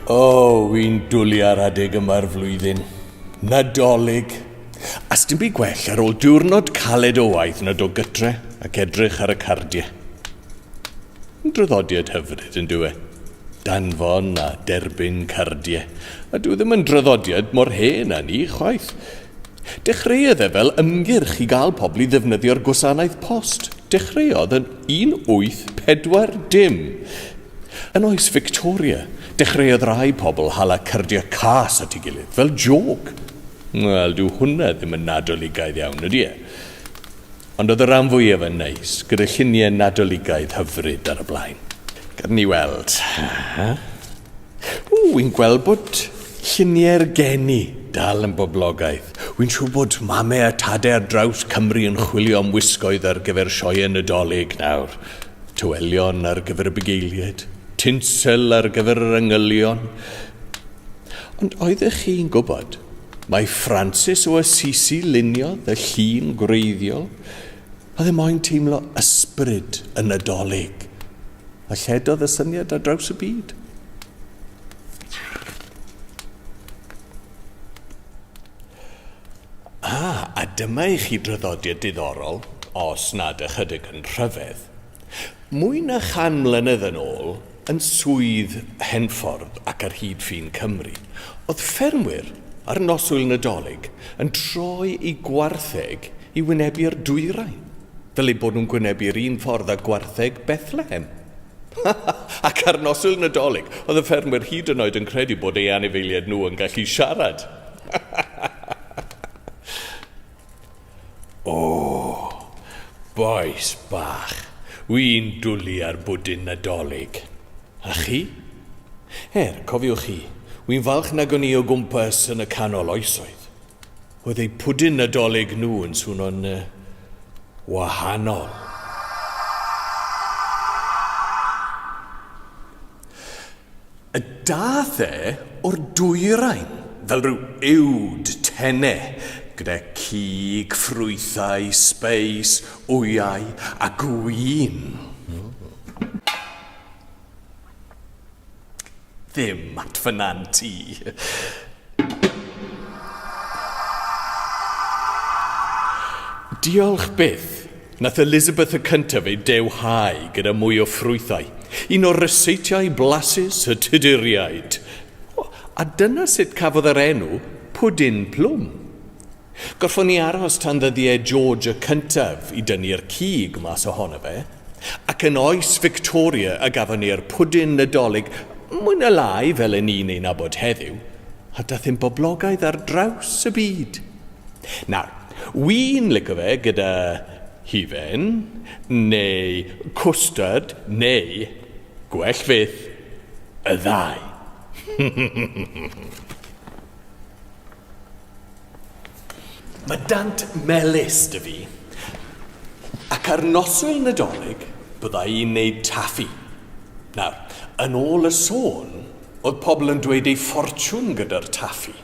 O, oh, fi'n dwlu ar adeg yma'r flwyddyn. Nadolig. A sdim byd gwell ar ôl diwrnod caled o waith nad o gytre ac edrych ar y cardiau. Draddodiad hyfryd, yn dyw e? Danfon a derbyn cardiau. A dyw e ddim yn draddodiad mor hen â ni, chwaith. Dechreuodd e fel ymgyrch i gael pobl i ddefnyddio'r gwasanaeth post. Dechreuodd yn 1840. Yn oes Victoria, dechreuodd rai pobl hala cardiau cas at ei gilydd, fel jôc. Wel, dyw hwnna ddim yn Nadoligaidd iawn, ydy e? Ond oedd y ran fwyaf yn neis, gyda lluniau Nadoligaidd hyfryd ar y blaen. Gad ni weld. Ww, wi'n gweld bod lluniau'r geni dal yn boblogaidd. Wi'n siŵr bod mame a tade ar draws Cymru yn chwilio am wisgoedd ar gyfer sioeau Nadolig nawr. Tywelion ar gyfer y bugeiliaid, tinsel ar gyfer yr angylion. Ond oeddech chi'n gwybod? Mae Francis o Assisi luniodd y llun gwreiddiol a ddim moyn teimlo ysbryd y Nadolig, a lledodd y syniad ar draws y byd. A, a dyma i chi draddodiad diddorol, os nad ychydig yn rhyfedd. Mwy na chan mlynedd yn ôl, yn Swydd Henffordd ac ar hyd ffin Cymru, oedd ffermwyr ar noswyl Nadolig yn troi eu gwartheg i wynebu'r dwyrain, fel eu bod nhw'n gwynebu'r un ffordd â gwartheg Bethlehem. Ac ar noswyl Nadolig, oedd y ffermwyr hyd yn oed yn credu bod eu anifeiliaid nhw yn gallu siarad! O! Bois bach, wi'n dwli ar bwdin Nadolig. A chi? Er, cofiwch chi, wi'n falch nag o'n i o gwmpas yn y canol oesoedd. Oedd eu pwdin Nadolig nhw yn swno'n yy wahanol. A daeth e o'r dwyrain fel rhyw uwd tene, gyda cig, ffrwythau, sbeis, wyau a gwin. Ddim at fy nant i. Diolch byth. Nath Elizabeth y cyntaf ei dewhau gyda mwy o ffrwythau, un o ryseitiau blasus y Tuduriaid. O, a dyna sut cafodd yr enw Pwdin Plwm. Gorffon ni aros tan ddyddiau George y cyntaf i dynnu'r cig mas ohono fe, ac yn oes Victoria y gafon ni'r Pwdin Nadolig, mwy na lai fel y ni'n ei nabod heddiw, a dath e'n boblogaidd ar draws y byd. Nawr, Wi'n lico fe gyda hufen neu cwstard neu, gwell fyth, y ddau. Mae dant melys 'da fi, ac ar noswyl Nadolig bydda i'n neud taffi. Nawr, yn ôl y sôn, oedd pobl yn dweud eu ffortiwn gyda'r taffi.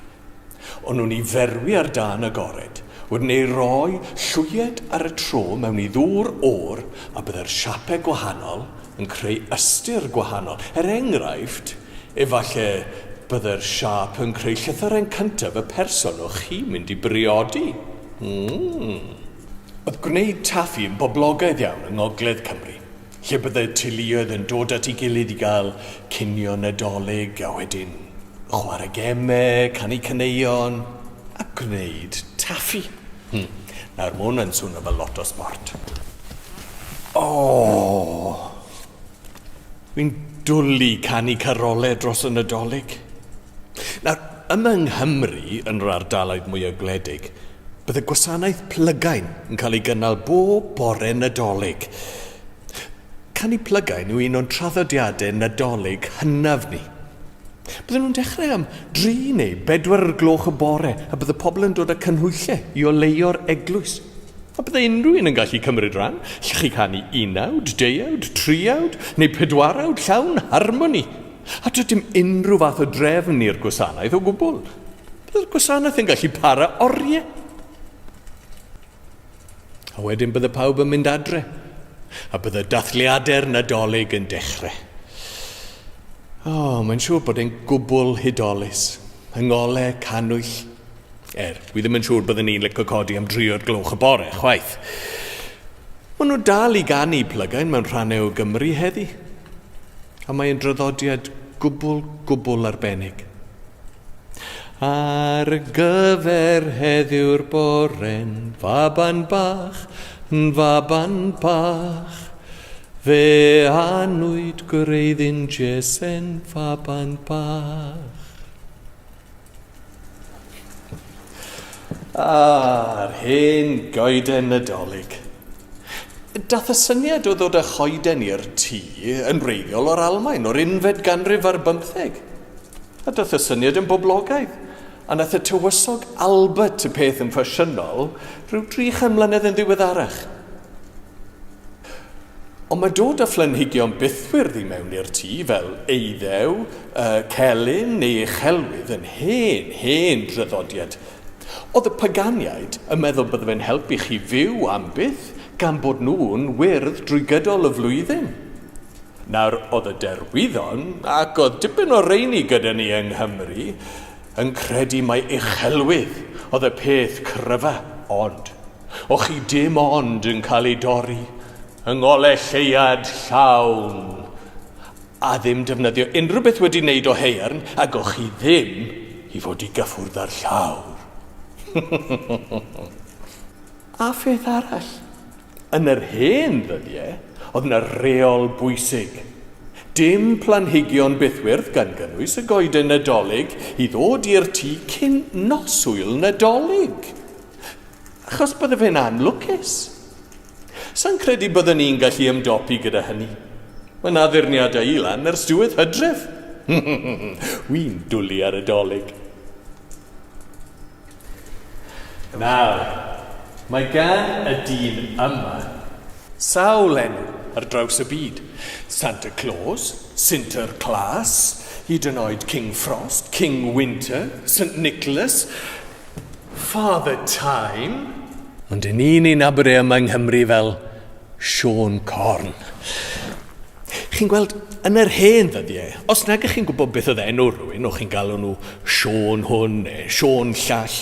Ond nhw'n ei ferwi ar dân agored, wedyn ei roi llwyed ar y tro mewn i ddŵr oer a byddai'r siapau gwahanol yn creu ystyr gwahanol. Er enghraifft, efallai byddai'r siâp yn creu llythyren cyntaf y person o'ch chi'n mynd i briodi. Mm. Oedd gwneud taffi yn boblogaidd iawn yng Ngogledd Cymru. lle byddai'r teuluoedd yn dod at ei gilydd i gael cinio Nadolig a wedyn chwarae gemau, canu caneuon a gwneud taffi. Hmm, nawr mae hwn yn swnio fel lot o sbort. O! Fi'n dwlu canu carolau dros y Nadolig. Nawr, Yma yng Nghymru, yn yr ardaloedd mwyaf gwledig, bydd y gwasanaeth plygain yn cael ei gynnal bob bore Nadolig. Canu plygain yw un o'n traddodiadau Nadolig hynaf ni. Bydden nhw'n dechrau am dri neu bedwar o'r gloch y bore a bydd y pobl yn dod â cynhwyllau i oleuo'r eglwys. A byddai unrhyw un yn gallu cymryd rhan, chi'n gallu canu unawd, deuawd, triawd neu pedwarawd llawn harmoni. A does dim unrhyw fath o drefn i'r gwasanaeth o gwbl. Byddai'r gwasanaeth yn gallu para oriau. A wedyn bydde pawb yn mynd adre, a bydde dathliadau'r Nadolig yn dechrau. O, mae'n siŵr bod e'n gwbl hudolus, yng ngolau cannwyll, Er, wi ddim yn siŵr byddwn ni'n lico codi am dri o'r gloch y bore, chwaith. Maen nhw dal i ganu plygain mewn rhannau o Gymru heddi. A mae'n draddodiad gwbl, gwbl arbennig. Ar gyfer heddiw'r bore'n faban bach, yn faban bach. Fe anwyd gwreiddyn Jese'n faban bach. A'r hen goeden Nadolig. Dath y syniad o ddod â choeden i'r tŷ yn wreiddiol o'r Almaen o'r unfed ganrif ar bymtheg. A dath y syniad yn boblogaidd, a nath y tywysog Albert y peth yn ffasiynol rhyw dri chan mlynedd yn ddiweddarach. Ond mae dod â phlenhigion bythwyrdd i mewn i'r tŷ, fel eiddew, celyn neu uchelwydd, yn hen, hen draddodiad. Oedd y paganiaid yn meddwl bydde fe'n helpu chi fyw am byth, gan bod nhw'n wyrdd drwy gydol y flwyddyn? Nawr, oedd y derwyddon, ac oedd dipyn o reini gyda ni yng Nghymru, yn credu mai uchelwydd oedd y peth cryfa, ond, o' chi dim ond yn cael ei dorri yng ngole lleuad llawn, a ddim defnyddio unrhyw beth wedi wneud o haearn, ag o' chi ddim i fod i gyffwrdd â'r llawr. A pheth arall, Yn yr hen ddyddiau, oedd yna reol bwysig. Dim planhigion bythwyrdd gan gynnwys y goeden Nadolig i ddod i'r tŷ cyn noswyl Nadolig. Achos bydde fe'n anlwcus. Sa'n credu byddwn ni'n gallu ymdopi gyda hynny. Mae yna addurniadau i lan ers diwedd hydref. Wi'n dwlu ar y Dolig. Nawr, mae gan y dyn yma sawl enw ar draws y byd, Santa Claus, Sinter Klaas, hyd yn oed King Frost, King Winter, Saint Nicholas, Father Time. Ond 'yn ni'n ei nabod e yma yng Nghymru fel Siôn Corn. Chi'n gweld, yn yr hen ddyddiau, os nag ych chi'n gwybod beth oedd enw rhywun, o'ch chi'n galw nhw Siôn hwn neu Siôn llall.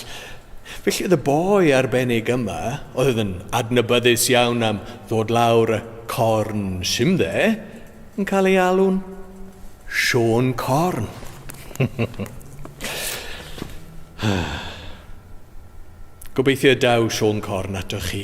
Felly oedd y boi arbennig yma, oedd yn adnabyddus iawn am ddod lawr y corn simdde, yn cael ei alw'n Siôn Corn. Gobeithio daw Siôn Corn atoch chi.